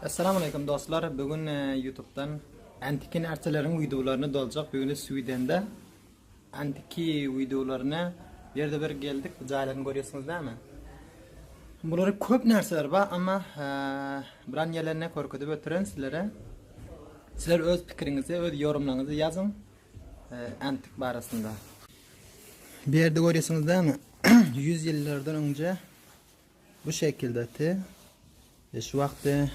Essalamaleýkum dostlar bu gün ýutubdan Antiki närseleriň wideolaryny doljak bu gün Swidende Antiki wideolaryna ýerde bir geldik bu jaýlaryny görýärsiňiz näme Bulary köp närseler bar amma biran ýerlerine körkezip ötüren sizlere Sizler öz pikiriňizi öz ýorumlaryňyzy ýazyň Antik barasynda Bu ýerde görýärsiňiz näme 100 ýyllardan öňje Bu şekilde te e, şu wagtda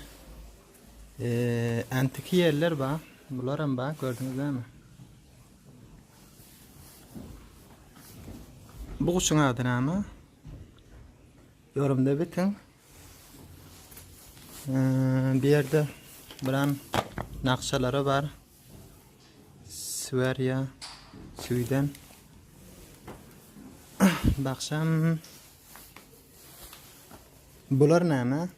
e, antiki ýerler bar. Bular hem bar, gördüňizmi? Bu guşuň ady näme? Yorumda bitin. E, bir ýerde biran nakşalary bar. Sverya, Süýden. Bakşam Bular näme?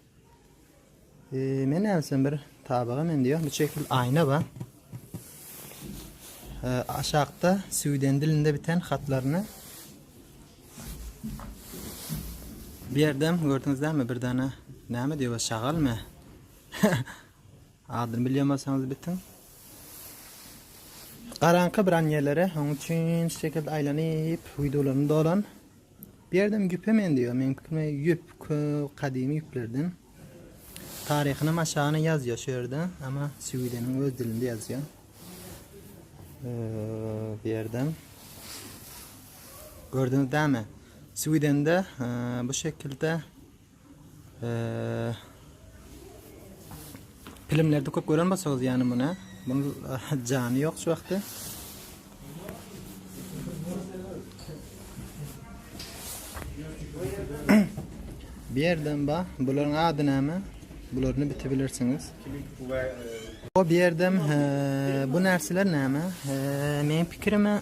Ee, men näsem bir tabaga men diýýär. Bu şekil aýna ba. Ee, aşakda süwden dilinde biten hatlaryny Bu ýerdem gördüňizmi bir dana näme diýýär şagalmy? Adyny bilýärmiňiz bitiň. Garanka bir anýelere, onuň üçin şu şekilde aýlanyp, wideolaryny dolan. Bu ýerdem ýüpe meňzeýär. Meň pikirimçe ýüp köp gadymy ýüplerden. Taryhyny maşagany ýazýar şu ýerde, ama Swideniň öz dilinde ýazýar. Bu ýerdem gördüňiz dämi? Swidende bu şekilde Pilimlerde köp gören bolsaňyz ýany muny. Bunun jany ýok şu wagtda. Bir ýerden ba, bularyň ady näme? Bularyny bitibilirsiňiz. O bir ýerdem bu närseler näme? Meň pikirime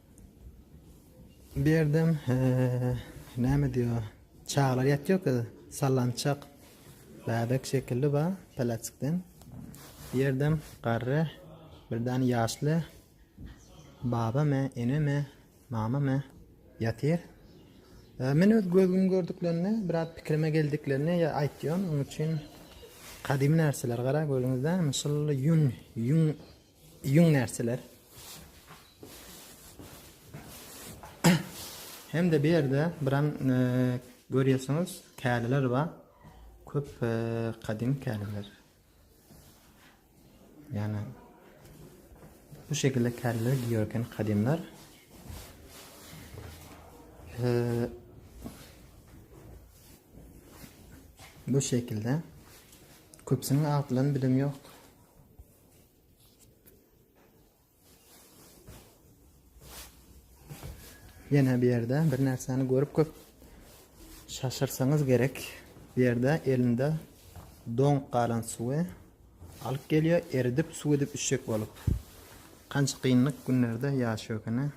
Bu ýerdem näme diýýär? Çagalar ýatýarka sallançak bäbek şekilli bar peläçikden. Bu ýerdem garry bir däne ýaşly babamy, enemi, mamamy ýatyr. Men öz gözüm gördüklerini, biraz pikirime geldiklerini ýa aýtýan. Onuň üçin gadymy närseler gara görüňizde, şol ýün, ýün Ýüň närseler. Hem-de bu ýerde biram e, görýärsiňiz, käliler bar. Köp e, gadymy käliler. Ýani bu şekilde käliler giýerken kadimler. E, bu şekilde köpüsiniň atlaryny bilim ýok. Ýene bir ýerde bir närseni görüp köp şaşyrsaňyz gerek. Bu ýerde elinde doň galan suwy alyp gelýär, eridip suw edip içjek bolup. Kança kynlyk günlerde ýaşaýar ekeni.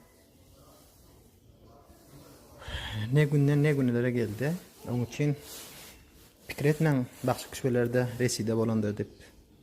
Ne günden ne günlere geldi. Onuň üçin pikir etmäň, bagşy kişilerde reside bolandyr dip.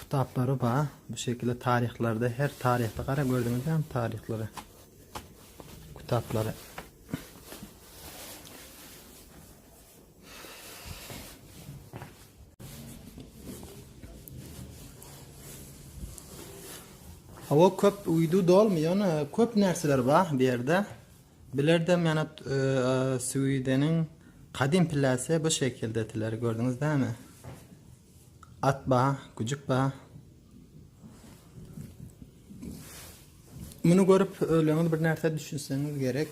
Kitaplary ba bu şekilde taryhlarda her taryhda gara gördüňiz hem taryhlara. Kitaplary. Hava köp uydu dolmuyor. Köp nerseler var bir yerde. Bilerdem ýana Swideniň gadym pilläsi bu şekildetiler gördüňiz dämi? At ba, güjük ba. Muny görüp öleňiz bir närsä düşünseňiz gerek.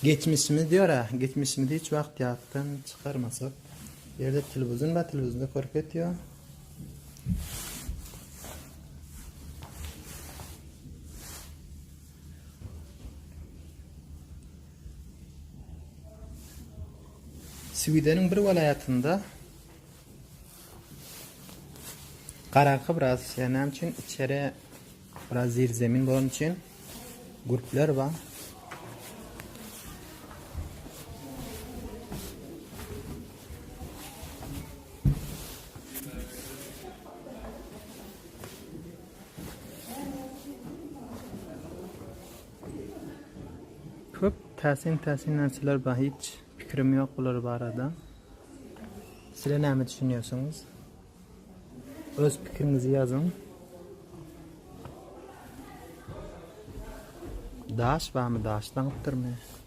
Geçmişimiz diýär-ä, geçmişimiz hiç wagt ýatdan çykarmasak. Ýerde telewizyon ba, telewizyonda görüp ýetýär. Swideniň bir welaýatynda garaňky biraz şeýle näme üçin içeri biraz zirzemin bolany üçin gurplar bar. Köp täsin täsin närseler bar hiç pikirim ýok bular barada. Sizler näme düşünýärsiňiz? Öz pikiriňizi ýazyň. Daş barmy daş daňypdyrmy?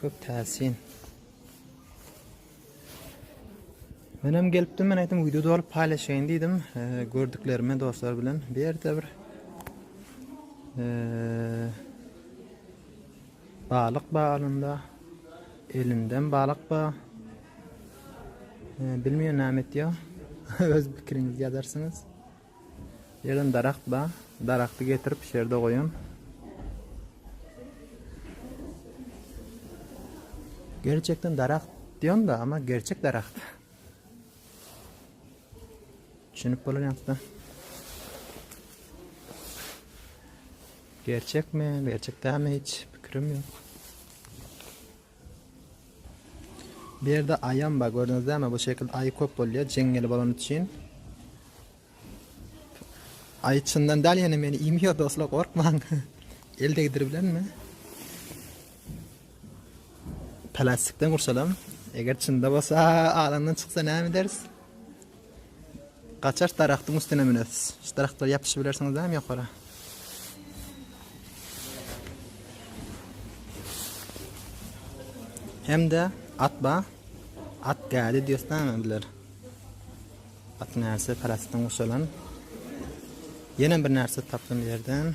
Köp täsin. Men hem gelipdim, men aýtdym wideo dolyp paýlaşaýyn diýdim. E, gördüklerimi dostlar bilen bir ýerde bir e, balyk bar alynda. Elinden balyk bar. E, bilmeýän näme etýär. Öz pikiriňizi ýazarsyňyz. Ýylan daragt ba, daragty getirip şerde goýan. Gerçekden daragt diýen da ama gerçek daragt. Düşünip bolan ýakda. Gerçek mi, gerçek dämi hiç pikirim ýok. Bu ýerde aýam bar gördüňizlermi bu şekilde aýy köp bolýar jeňňeli bolany üçin. Aýy çyndan däl ýene meni iýmeýär dostlar gorkmaň. El degdiribilenmi? Plastikden gurşalam. Eger çynda bolsa alandan çyksa näme ederis? Gaçaş daragtyň üstüne münersiz. Şu daragtlara ýapyşybilersiňiz dämi ýokara. Hem-de at ba, at gädi diýosdämi biler. At närse parasytdan guşalan. Ýene bir närse tapdym ýerden.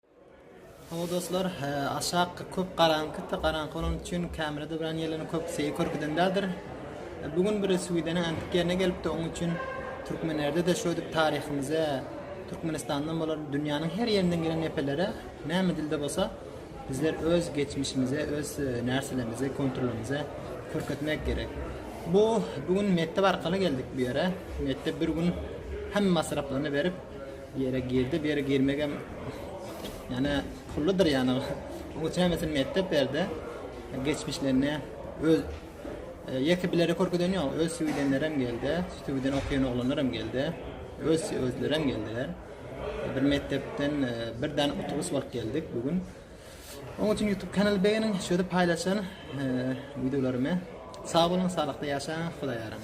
Hawa dostlar, aşak köp garaňky, garaňky bolany üçin kamera döwran ýerleriniň köpüsi körpüden däldir. Bu gün bir suwideniň äňtik ýerine gelipdi, onuň üçin Türkmenlerde-de şödip taryhymyza, Türkmenistandan bolar dünýäniň her ýerinden gelen epelere näme dilde bolsa bizler öz geçmişimize, öz närselerimize, konturlarymyza körkezmek gerek. Bu bu gün mekdep arkaly geldik bu ýere. Mekdep bir gün hemme masraplaryny berip, Ýere girdi beri girmegem ýane pulludyr ýane oň üçin hemmesini mekdep berdi geçmişlerine öz ýeke bileri körkezeni ýok öz süýdenlerem geldi süýden okýan oglanlaram geldi öz özlerem geldiler bir mekdepden bir däne otobus bolup geldik bu gün oň üçin youtube kanal beýeniň şöýdip paýlaşyň wideolarymy sag boluň saglykda ýaşaň hudaýa ýaraň